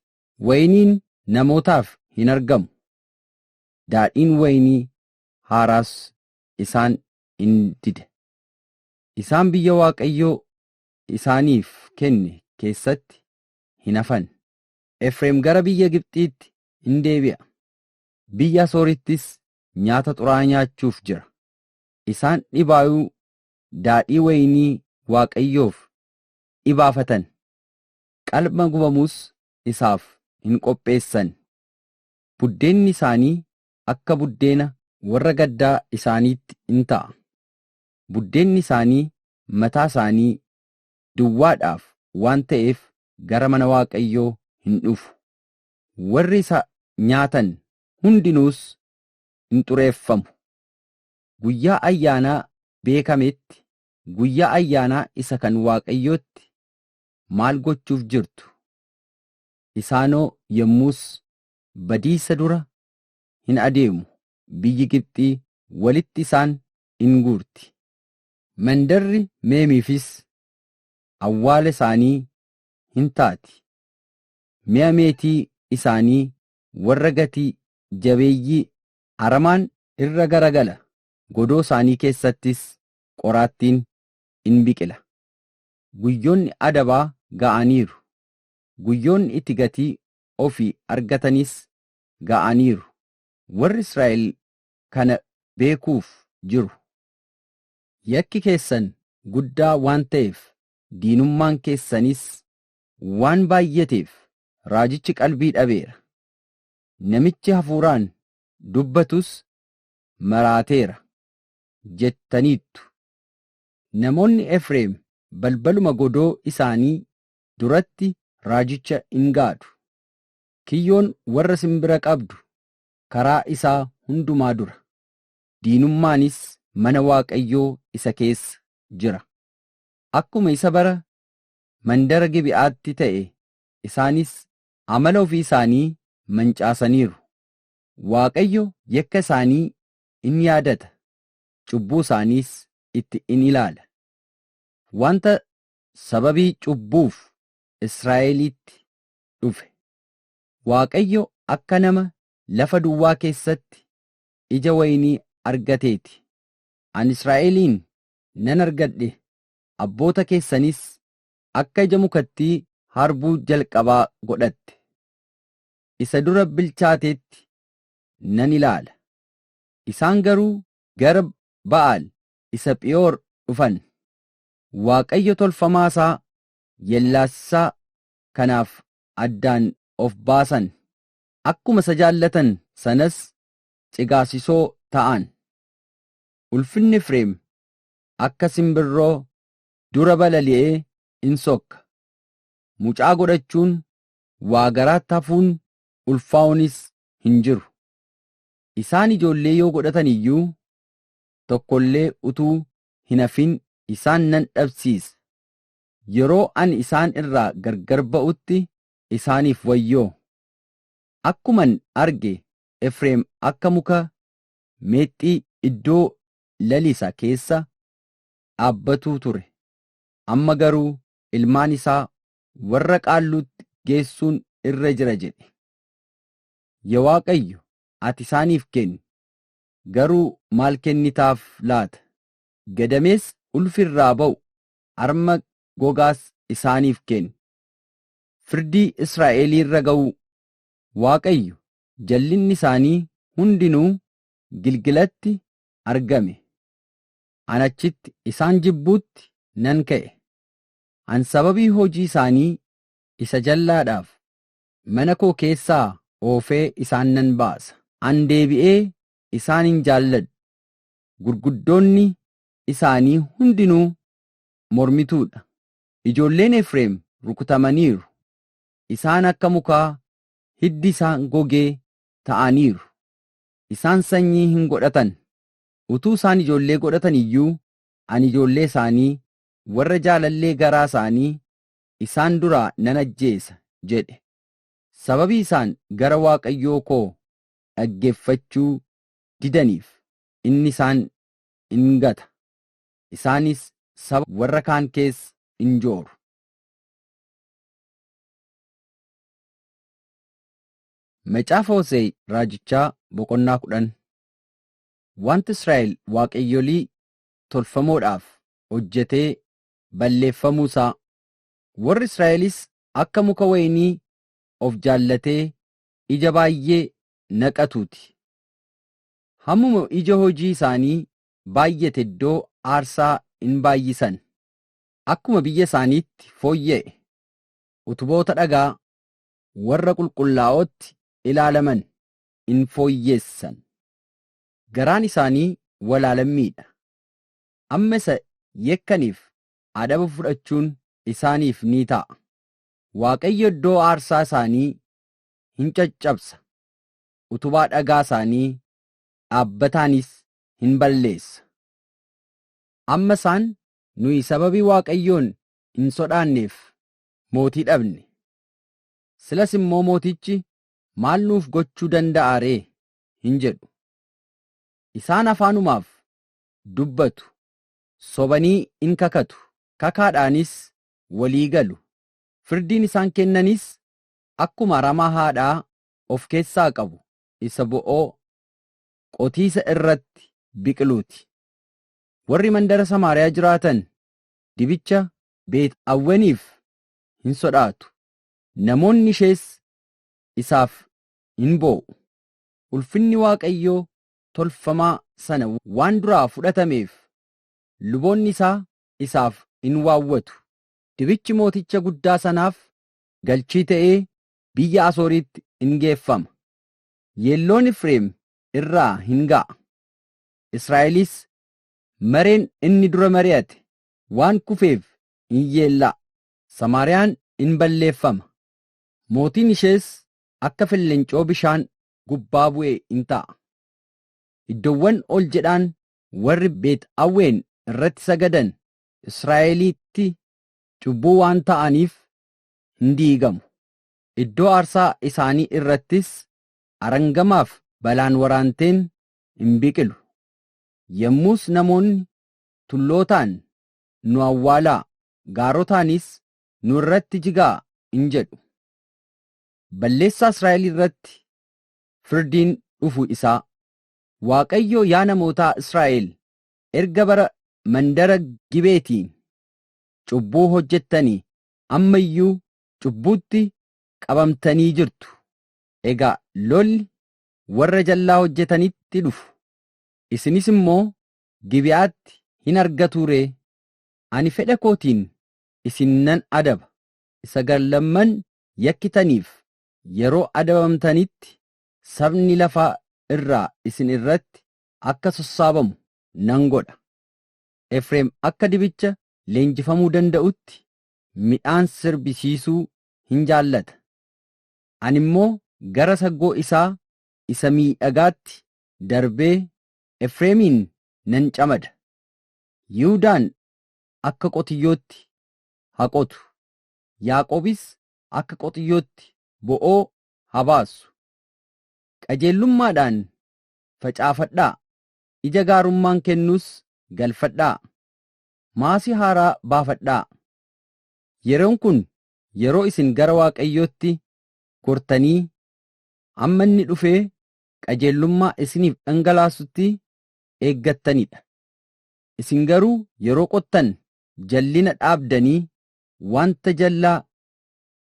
wayiniin namootaaf hin argamu, daadhiin wayinii haaraas isaan in dida. Isaan biyya Waaqayyo isaaniif kenne keessatti hin hafan. Efreem gara biyya Gibxiitti in deebi'a, biyya Asoorittis nyaata xuraa'aa nyaachuuf jira. Isaan dhibaayuu daadhii wayinii Waaqayyoof dhibaafatan, qalma gubamus isaaf hin qopheessan. Buddeenni isaanii akka buddeena warra gaddaa isaaniitti in ta'a, buddeenni isaanii mataa isaanii duwwaadhaaf waan ta'eef gara mana Waaqayyoo hin dhufu. Warri isa nyaatan hundinuus hin xureeffamu. Guyyaa ayyaanaa beekameetti guyyaa ayyaanaa isa kan Waaqayyootti maal gochuuf jirtu? Isaanoo yommus badiisa dura hin adeemu, biyyi Gibxii walitti isaan in guurti. Mandarri Meemiifis awwaala isaanii hin taati, mi'a meetii isaanii warra gati jabeeyyii aramaan irra gara gala, godoo isaanii keessattis qoraattiin in biqila. Guyyoonni adabaa ga'aniiru, guyyoonni itti gatii ofii argatanis ga'aniiru, warri Israa'el kana beekuuf jiru. Yakki keessan guddaa waan ta'eef, diinummaan keessanis waan baay'ateef, raajichi qalbii dhabeera. Namichi hafuuraan dubbatus maraateera jettaniittu. Namoonni Efreem balbaluma godoo isaanii duratti raajicha in gaadu. Kiyyoon warra sin bira qabdu karaa isaa hundumaa dura, diinummaanis mana Waaqayyoo isa keessa jira. Akkuma isa bara mandara Gibe'aatti ta'e Isaanis amala ofii isaanii mancaasaniiru. Waaqayyo yakka isaanii in yaadata, cubbuu isaaniis itti in ilaala. Wanta sababii cubbuuf Israa'eliitti dhufe. Waaqayyo akka nama lafa duwwaa keessatti ija wayinii argatee ti. Ani Israa'eliin nan argadhe, abboota keessanis akka ija mukattii harbuu jalqabaa godhatte, isa dura bilchaateetti nan ilaala. Isaan garuu gara Ba'aal isa Phiyoor dhufan, waaqayyo tolfamaa isaa yellaasisaa kanaaf addaan of baasan, akkuma isa jaallatan sanas cigaasisoo ta'an. Ulfinni Efreem akka simbirroo dura balali'ee in sokka. Mucaa godhachuun waa garaatti hafuun ulfaa'uunis hin jiru. Isaan ijoollee yoo godhatan iyyuu tokko illee utuu hin hafin isaan nan dhabsiisa. Yeroo ani isaan irraa gargar ba'utti isaaniif wayyoo! Akkuman arge Efreem akka muka meexxii iddoo lalisa keessa dhaabbatuu ture. Amma garuu ilmaan isaa warra Qaalluutti geessuun irra jira jedhe. Ya Waaqayyo, ati isaaniif kenni, garuu maal kennitaaf laata? Gadameessa ulfi irraa ba'u, arma gogaas isaaniif kenni. Firdii Israa'elii irra ga'uu. Waaqayyo, jallinni isaanii hundinuu Gilgilatti argame. an achitti isaan jibbuutti nan ka'e, an sababii hojii isaanii isa jallaadhaaf mana koo keessaa oofee isaan nan baasa. An deebi'ee isaan hin jaalladhu, gurguddoonni isaanii hundinuu mormituu dha, ijoolleen Efreem rukutamaniiru, isaan akka mukaa hiddi isaa gogee ta'aniiru, isaan sanyii hin godhatan, Utuu isaan ijoollee godhatani iyyuu, ani ijoollee isaanii warra jaalallee garaa isaanii isaan duraa nan ajjeesa jedhe, sababii isaan gara Waaqayyoo koo dhaggeeffachuu didaniif inni isaan in gata, isaanis saba warra kaan keessa in jooru. Macaafa Hose'e Raajichaa boqonnaa 10 Wanti Israa'el waaqayyolii tolfamoodhaaf hojjetee balleeffamuu isaa, warri Israa'elis akka muka wayinii of jaallatee ija baay'ee naqatuu ti. Hammuma ija hojii isaanii baay'ate iddoo aarsaa in baay'isan, akkuma biyya isaaniitti fooyya'e utuboota dhagaa warra qulqullaa'ootti ilaalaman in fooyyeessan. Garaan isaanii walaalammii dha. Amma isa yakkaniif adaba fudhachuun isaaniif ni ta'a. Waaqayyo iddoo aarsaa isaanii hin caccabsa, utubaa dhagaa isaanii dhaabbataanis hin balleessa. Amma isaan, Nuyi sababii Waaqayyoon hin sodaanneef mootii dhabne. Silas immoo mootichi maal nuuf gochuu danda'a ree? hin jedhu. Isaan afaanumaaf dubbatu, sobanii in kakatu, kakaadhaanis walii galu, firdiin isaan kennanis akkuma aramaa haadhaa of keessaa qabu isa bo'oo qotiisa irratti biqiluu ti. Warri mandara Samaariyaa jiraatan dibicha Beet Awweniif hin sodaatu, namoonni ishees isaaf in boo'u. Ulfinni Waaqayyoo tolfamaa sana waan duraa fudhatameef, luboonni isaa isaaf in waawwatu. Dibichi mooticha guddaa sanaaf galchii ta'ee biyya Asooriitti in geeffama. Yeelloon Efreem irraa hin ga'a. Israa'elis mareen inni dura mari'ate waan kufeef in yeella'a. Samaariyaan in balleeffama, Mootiin ishees akka fellencoo bishaan gubbaa bu'e in ta'a. Iddoowwan ol jedhaan warri Beet Awween irratti sagadan Israa'elitti cubbuu waan ta'aniif hin diigamu. Iddoo aarsaa isaanii irrattis arangamaaf balaan waraanteen in biqilu. Yommus namoonni tullootaan, Nu awwaalaa! gaarotaanis, nu irratti jigaa in jedhu. Balleessaa Israa'el irratti firdiin dhufu isaa. Waaqayyo yaa namootaa Israa'el erga bara mandara Gibeetiin cubbuu hojjettanii amma iyyuu cubbuutti qabamtanii jirtu. Egaa lolli warra jallaa hojjetanitti dhufu. Isinis immoo Gibi'aatti hin argatuu ree? Ani fedha kootiin isin nan adaba, isa gar lamman yakkitaniif yeroo adabamtanitti sabni lafa irraa isin irratti akka sossaabamu nan godha, Efreem akka dibicha leenjifamuu danda'utti midhaan sirbisiisuu hin jaallata, ani immoo gara saggoo isaa isa miidhagaatti darbee Efreemiin nan camada, Yihudaan akka qotiyyootti haa qotu, Yaaqoobis akka qotiyyootti bo'oo haa baasu. Qajeellummaadhaan facaafadhaa, ija gaarummaan kennus galfadhaa. Maasii haaraa baafadhaa. Yeroon kun yeroo isin gara Waaqayyootti gortanii amma inni dhufee qajeellummaa isiniif dhangalaasutti eeggattanidha. Isin garuu yeroo qottan jallina dhaabdanii wanta jallaa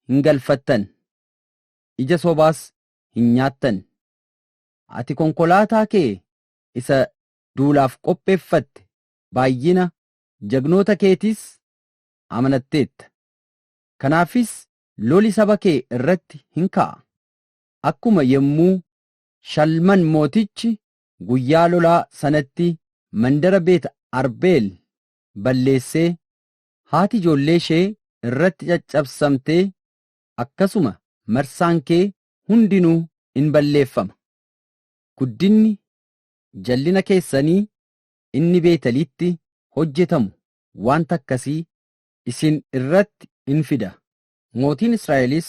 hin galfattan, ija sobaas hin nyaattan. Ati konkolaataa kee isa duulaaf qopheeffatte, baay'ina jagnoota keetiis amanatteetta. Kanaafis loli saba kee irratti hin ka'a, akkuma yommuu Shalman Mootichi guyyaa lolaa sanatti mandara Beet Arbeel balleessee, haati ijoollee ishee irratti caccabsamtee, akkasuma marsaan kee hundinuu in balleeffama. Guddinni jallina keessanii inni Beetelitti hojjetamu wanta akkasii isin irratti in fida, mootiin Israa'elis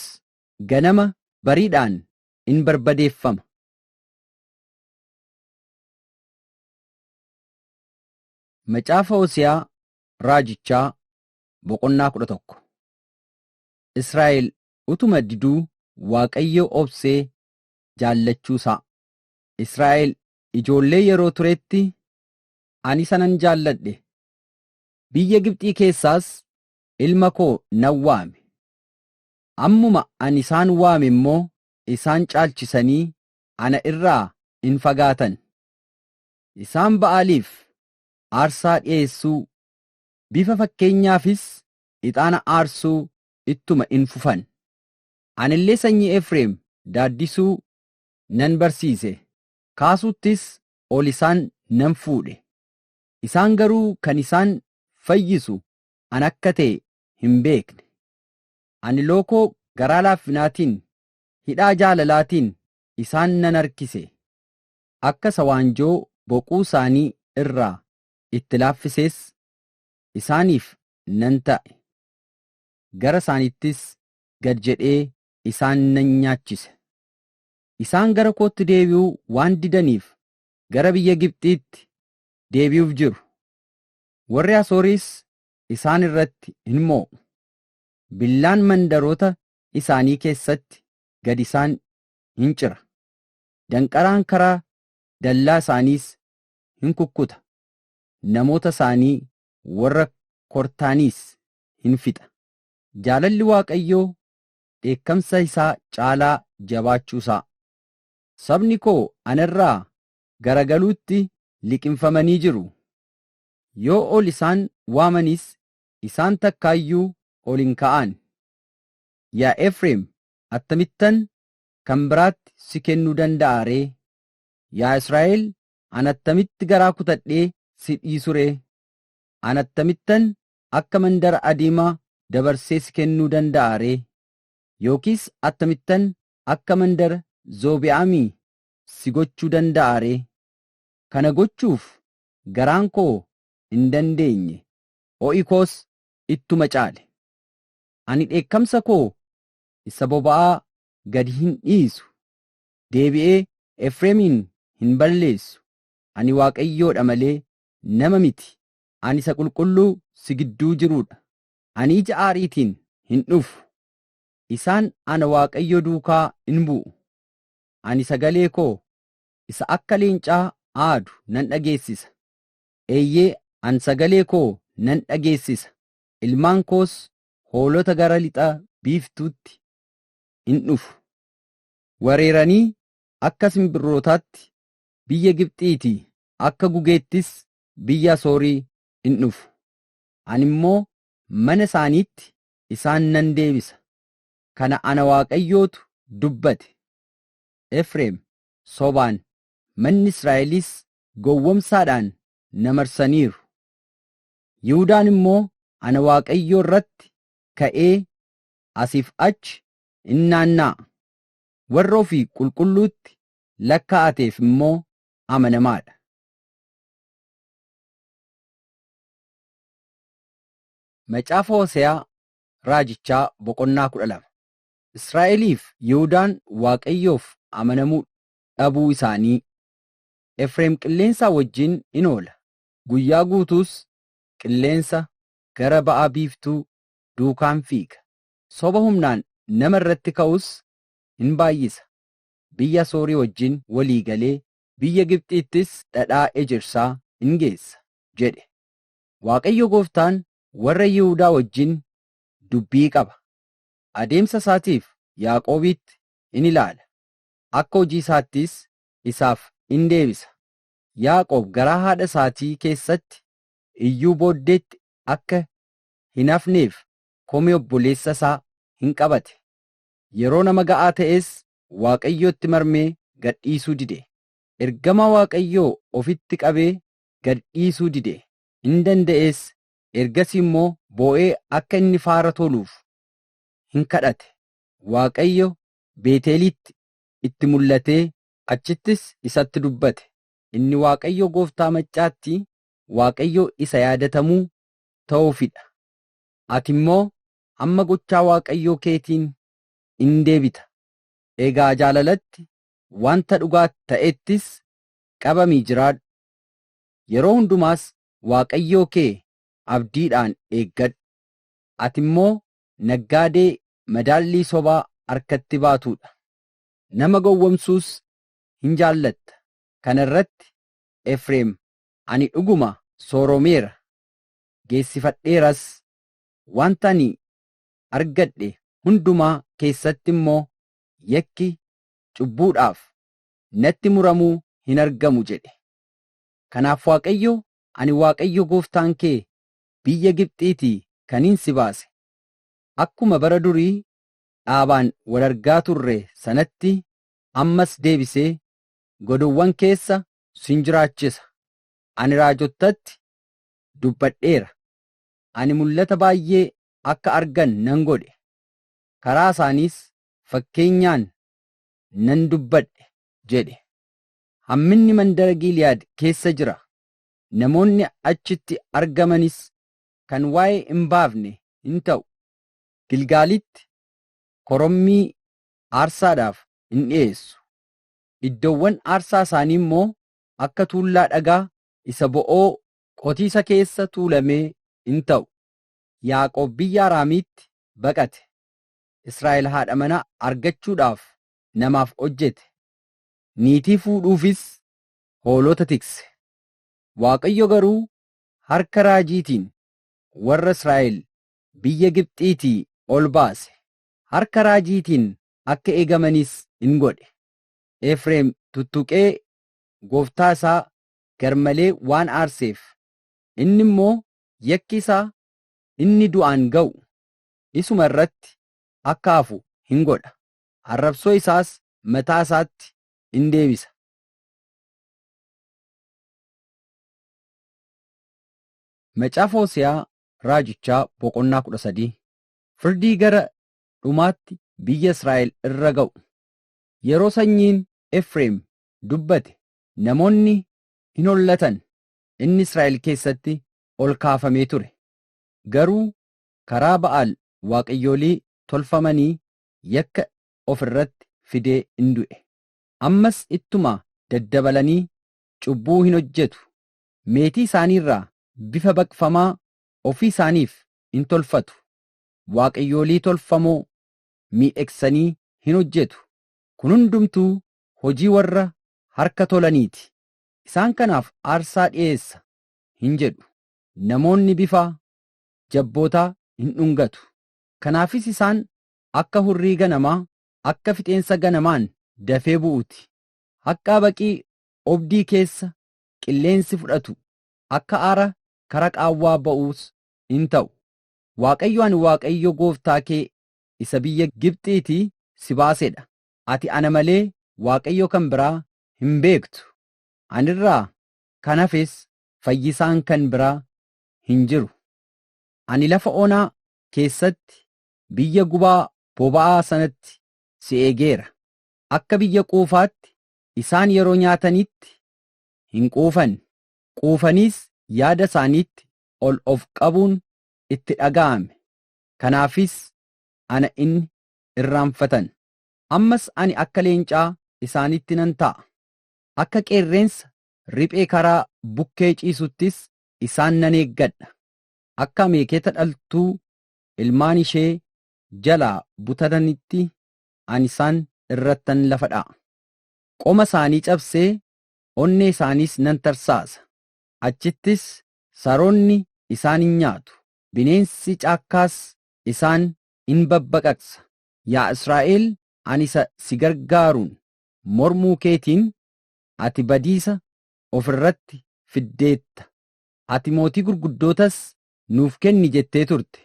ganama bariidhaan in barbadeeffama. Macaafa Hosiyaa Raajichaa boqonnaa kudha tokko Israa'el utuma diduu Waaqayyoo obsee jaallachuusaa. Israa'el ijoollee yeroo turetti ani isa nan jaalladhe, biyya Gibxii keessaas ilma koo nan waame. Ammuma ani isaan waame immoo isaan caalchisanii ana irraa in fagaatan. Isaan Ba'aaliif aarsaa dhi'eessuu, bifa fakkeenyaafis ixaana aarsuu ittuma in fufan. Ani illee sanyii Efreem daaddisuu nan barsiise, kaasuuttis ol isaan nan fuudhe. Isaan garuu kan isaan fayyisu ana akka ta'e hin beekne. Ani lookoo garaa laaffinaatiin hidhaa jaalalaatiin isaan nan harkise, akka isa waanjoo boquu isaanii irraa itti laaffisees isaaniif nan ta'e, gara isaaniittis gad jedhee isaan nan nyaachise. Isaan gara kootti deebi'uu waan didaniif gara biyya Gibxiitti deebi'uuf jiru. Warri Asooris isaan irratti in moo'u, billaan mandaroota isaanii keessatti gad isaan in cira, danqaraan karaa dallaa isaaniis in kukkuta, namoota isaanii warra kortaaniis in fixa. Jaalalli Waaqayyoo dheekkamsa isaa caalaa jabaachuu isaa. Sabni koo ana irraa garagaluutti liqimfamanii jiru, yoo ol isaan waamanis isaan takkaa iyyuu ol hin ka'an, Yaa Efreem, attamittan kan biraatti si kennuu danda'a ree? Yaa Israa'el, ani attamitti garaa kutadhee si dhiisu ree? Ani attamittan akka mandara Adiimaa dabarsee si kennuu danda'a ree? Yookiis attamittan akka mandara Zoobi'aamii si gochuu danda'a ree? Kana gochuuf garaan koo hin dandeenye, ho'i koos ittuma caale. Ani dheekkamsa koo isa boba'aa gad hin dhiisu, deebi'ee Efreemiin hin balleessu, ani Waaqayyoo dha malee nama miti, ani isa qulqulluu si gidduu jiruu dha, ani ija aariitiin hin dhufu, isaan ana Waaqayyo duukaa in bu'u, ani sagalee koo isa akka leencaa aadu nan dhageessisa, eeyyee, an sagalee koo nan dhageessisa, ilmaan koos hoolota gara lixa biiftuutti in dhufu, wareeranii akka simbirrootaatti biyya Gibxiitii, akka gugeettis biyya Asoorii in dhufu, ani immoo mana isaaniitti isaan nan deebisa, kana ana Waaqayyootu dubbate. Efreem sobaan, manni Israa'elis gowwomsaadhaan na marsaniiru. Yihudaan immoo ana Waaqayyoo irratti ka'ee asiif achi in naanna'a, warra ofii qulqulluutti lakkaa'ateef immoo amanamaa dha. Macaafa Hose'aa Raajichaa boqonnaa 12 Israa'eliif Yihudaan Waaqayyoof amanamuu dhabuu isaanii. Efreem qilleensaa wajjin in oola, Guyyaa guutuus qilleensa gara ba'a biiftuu duukaan fiiga. Soba humnaan nama irratti ka'us hin baay'isa. Biyya Asoorii wajjin walii galee biyya Gibxiittis dhadhaa ejersaa in geessa jedhe. Waaqayyo gooftaan warra Yihudaa wajjin dubbii qaba. Adeemsa isaatiif Yaaqoobiitti in ilaala, akka hojii isaattis isaaf in deebisa. Yaaqoob garaa haadha isaatii keessatti iyyuu booddeetti akka hin hafneef komee obboleessa isaa hin qabate. Yeroo nama ga'aa ta'es Waaqayyootti marmee gad dhiisuu dide. Ergamaa Waaqayyoo ofitti qabee gad dhiisuu dide, in danda'ees, ergasii immoo boo'ee akka inni faara toluuf hin kadhate. Waaqayyo Beeteliitti itti mul'atee Achittis isatti dubbate. Inni Waaqayyo gooftaa maccaatti Waaqayyo isa yaadatamuu ta'uufi dha. Ati immoo amma gochaa Waaqayyoo keetiin in deebita. Egaa jaalalatti, wanta dhugaa ta'ettis qabamii jiraadhu. Yeroo hundumaas Waaqayyoo kee abdiidhaan eeggadhu. Ati immoo naggaadee madaallii sobaa harkatti baatuu dha. nama gowwomsuus hin jaallatta. Kana irratti Efreem, Ani dhuguma sooromeera, geessifadheeras, wanta ani argadhe hundumaa keessatti immoo yakki cubbuudhaaf natti muramu hin argamu jedhe. Kanaaf Waaqayyo, Ani Waaqayyo gooftaan kee biyya Gibxiitii kanin si baase, akkuma bara durii dhaabaan wal argaa turre sanatti ammas deebisee godowwan keessa sin jiraachisa. Ani raajottatti dubbadheera. Ani mul'ata baay'ee akka argan nan godhe, karaa isaaniis fakkeenyaan nan dubbadhe jedhe. Hamminni mandara Giiliyaad keessa jira, namoonni achitti argamanis kan waa'ee hin baafne hin ta'u. Gilgaalitti korommii aarsaadhaaf in dhi'eessu, iddoowwan aarsaa isaanii immoo akka tuullaa dhagaa isa bo'oo qotiisa keessa tuulamee in ta'u. Yaaqoob biyya Araamiitti baqate, Israa'el haadha manaa argachuudhaaf namaaf hojjete, niitii fuudhuufis hoolota tikse. Waaqayyo garuu harka raajiitiin warra Israa'el biyya Gibxiitii ol baase, harka raajiitiin akka eegamanis in godhe. Efreem tuttuqee gooftaa isaa garmalee waan aarseef, inni immoo yakki isaa inni du'aan ga'u isuma irratti akka hafu in godha, arrabsoo isaas mataa isaatti in deebisa. Macaafa Hose'aa Raajichaa boqonnaa 13 Firdii gara dhumaatti biyya Israa'el irra ga'u. Yeroo sanyiin Efreem dubbate namoonni hin hollatan, inni Israa'el keessatti ol kaafamee ture. Garuu karaa Ba'aal waaqayyolii tolfamanii yakka of irratti fidee in du'e. Ammas ittuma daddabalanii cubbuu hin hojjetu, meetii isaanii irraa bifa baqfamaa ofii isaaniif in tolfatu, waaqayyoolii tolfamoo miidhegsanii hin hojjetu, kun hundumtuu hojii warra harka tolanii ti, isaan kanaaf aarsaa dhi'eessa hin jedhu. Namoonni bifa jabbootaa in dhungatu, kanaafis isaan akka hurrii ganamaa, akka fixeensa ganamaan dafee bu'uu ti, akka habaqii obdii keessa qilleensi fudhatu akka aara kara qaawwaa ba'uus in ta'u. Waaqayyo ani Waaqayyo gooftaa kee isa biyya Gibxiitii si baase dha. Ati ana malee Waaqayyo kan biraa hin beektu. Ani irraa kan hafes fayyisaan kan biraa hin jiru. Ani lafa onaa keessatti biyya gubaa boba'aa sanatti si eegeera. Akka biyya quufaatti isaan yeroo nyaatanitti hin quufan. Quufaniis yaada isaaniitti ol of qabuun itti dhaga'ame. Kanaafis ana in irraanfatan. Ammas ani akka leencaa isaanitti nan ta'a, akka qeerrensa riphee karaa bukkee ciisuttis isaan nan eeggadha, akka ameeketa dhaltuu ilmaan ishee jalaa butatanitti ani isaan irrattan lafa dha'a. Qoma isaanii cabsee onnee isaaniis nan tarsaasa, achittis saroonni isaan in nyaatu, bineensi caakkaas isaan in babbaqaqsa. Yaa Israa'el, ani isa si gargaaruun mormuu keetiin ati badiisa of irratti fiddeetta. Ati mootii gurguddootas nuuf kenni jettee turte,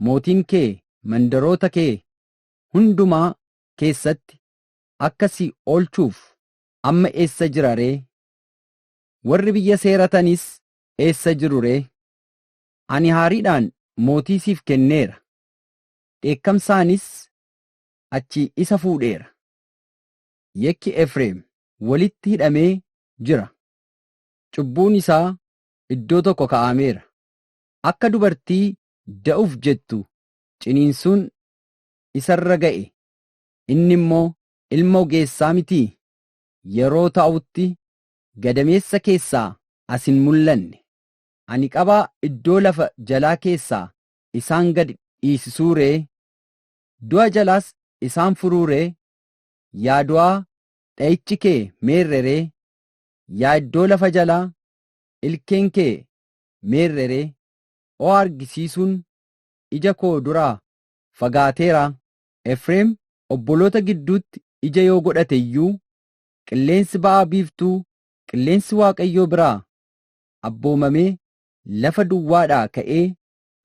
mootiin kee mandaroota kee hundumaa keessatti akka si oolchuuf amma eessa jira ree? Warri biyya seeratanis eessa jiru ree? Ani haariidhaan mootii siif kenneera, dheekkamsaanis achii isa fuudheera. Yakki Efreem walitti hidhamee jira, cubbuun isaa iddoo tokko ka'aameera. Akka dubartii da'uuf jettu ciniinsuun isa irra ga'e, inni immoo ilma ogeessaa mitii? Yeroo taa'utti gadameessa keessaa as hin mul'anne. Ani qabaa iddoo lafa jalaa keessaa isaan gad dhiisisuu ree? Du'a jalaas isaan furuu ree? Yaa du'aa, dha'ichi kee meerre ree? Yaa iddoo lafa jalaa, ilkeen kee meerre ree? O argisiisuun ija koo duraa fagaateeraa? Efreem obboloota gidduutti ija yoo godhate iyyuu, qilleensi ba'a biiftuu, qilleensi Waaqayyoo biraa abboomamee lafa duwwaadhaa ka'ee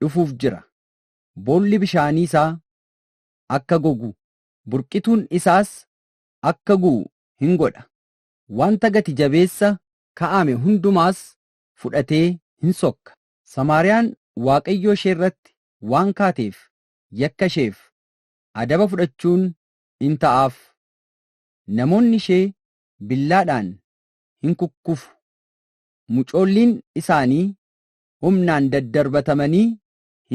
dhufuuf jira. Boolli bishaanii isaa akka gogu, burqituun isaas akka gu'u hin godha. Wanta gati jabeessa ka'ame hundumaas fudhatee hin sokka. Samaariyaan Waaqayyoo ishee irratti waan kaateef yakka isheef adaba fudhachuun in ta'aaf, namoonni ishee billaadhaan in kukkufu, mucoolliin isaanii humnaan daddarbatamanii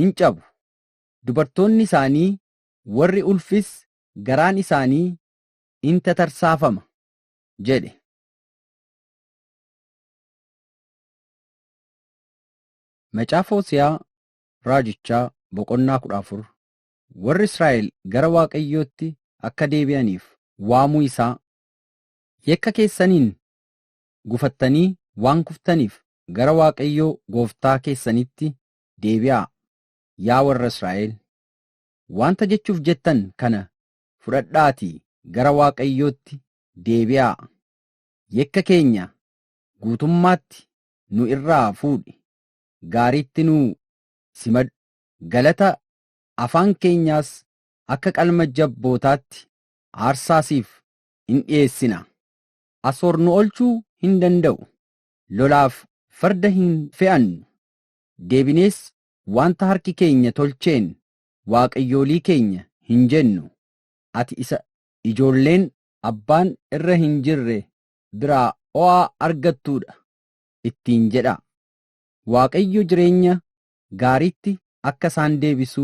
in cabu, dubartoonni isaanii warri ulfis garaan isaanii in tatarsaafama jedhe. Macaafa Hose'aa Raajichaa boqonnaa 14 Warri Israa'el gara Waaqayyootti akka deebi'aniif waamuu isaa Yakka keessaniin gufattanii waan kuftaniif gara Waaqayyoo gooftaa keessaniitti deebi'aa yaa warra Israa'el Wanta jechuuf jettan kana fudhadhaatii gara Waaqayyootti deebi'aa Yakka keenya guutummaatti nu irraa fuudhi gaariitti nu simadhu. Galata afaan keenyaas akka qalma jabbootaatti aarsaa siif in dhi'eessina. Asoor nu oolchuu hin danda'u, lolaaf farda hin fe'annu, deebinees wanta harki keenya tolcheen waaqayyolii keenya hin jennu, ati isa ijoolleen abbaan irra hin jirre biraa oo'a argattuu dha ittiin jedhaa. Waaqayyo jireenya gaariitti akka isaan deebisu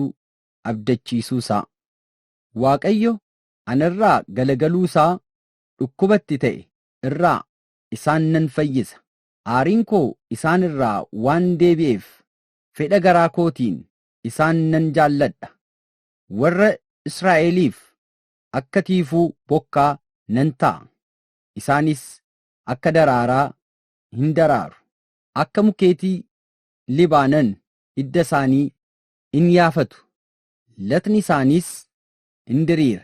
abdachiisuusaa. Waaqayyo ana irraa galagaluusaa dhukkuba itti ta'e irraa isaan nan fayyisa, aariin koo isaan irraa waan deebi'eef fedha garaa kootiin isaan nan jaalladha, warra Israa'eliif akka tiifuu bokkaa nan ta'a, isaanis akka daraaraa hin daraaru, akka mukeetii Libaanon hidda isaanii in yaafatu, latni isaaniis in diriira,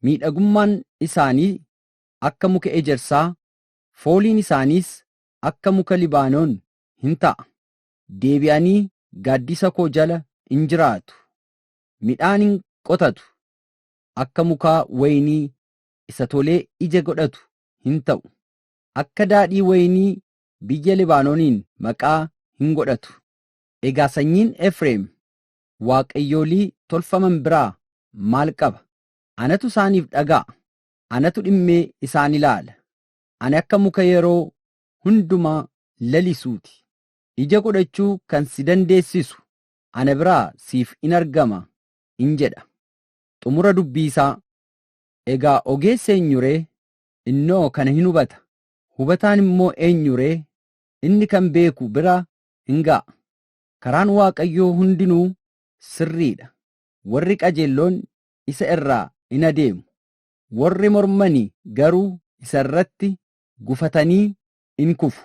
miidhagummaan isaanii akka muka ejersaa, fooliin isaaniis akka muka Libaanon in ta'a, deebi'anii gaaddisa koo jala in jiraatu, midhaan in qotatu, akka mukaa wayinii isa tolee ija godhatu in ta'u. akka daadhii wayinii biyya Libaanooniin maqaa hin godhatu. Egaa sanyiin Efreem waaqayyolii tolfaman biraa maal qaba? Anatu isaaniif dhaga'a, anatu dhimmee isaan ilaala. Ani akka muka yeroo hundumaa lalisuu ti. Ija godhachuu kan si dandeessisu ana biraa siif in argama in jedha. Xumura dubbii isaa. Egaa ogeessi eenyu ree? innoo kana hin hubata. Hubataan immoo eenyu ree? Inni kan beeku bira hin ga'a. Karaan Waaqayyoo hundinuu sirrii dha. Warri qajeelloon isa irraa in adeemu, warri mormani garuu isa irratti gufatanii in kufu.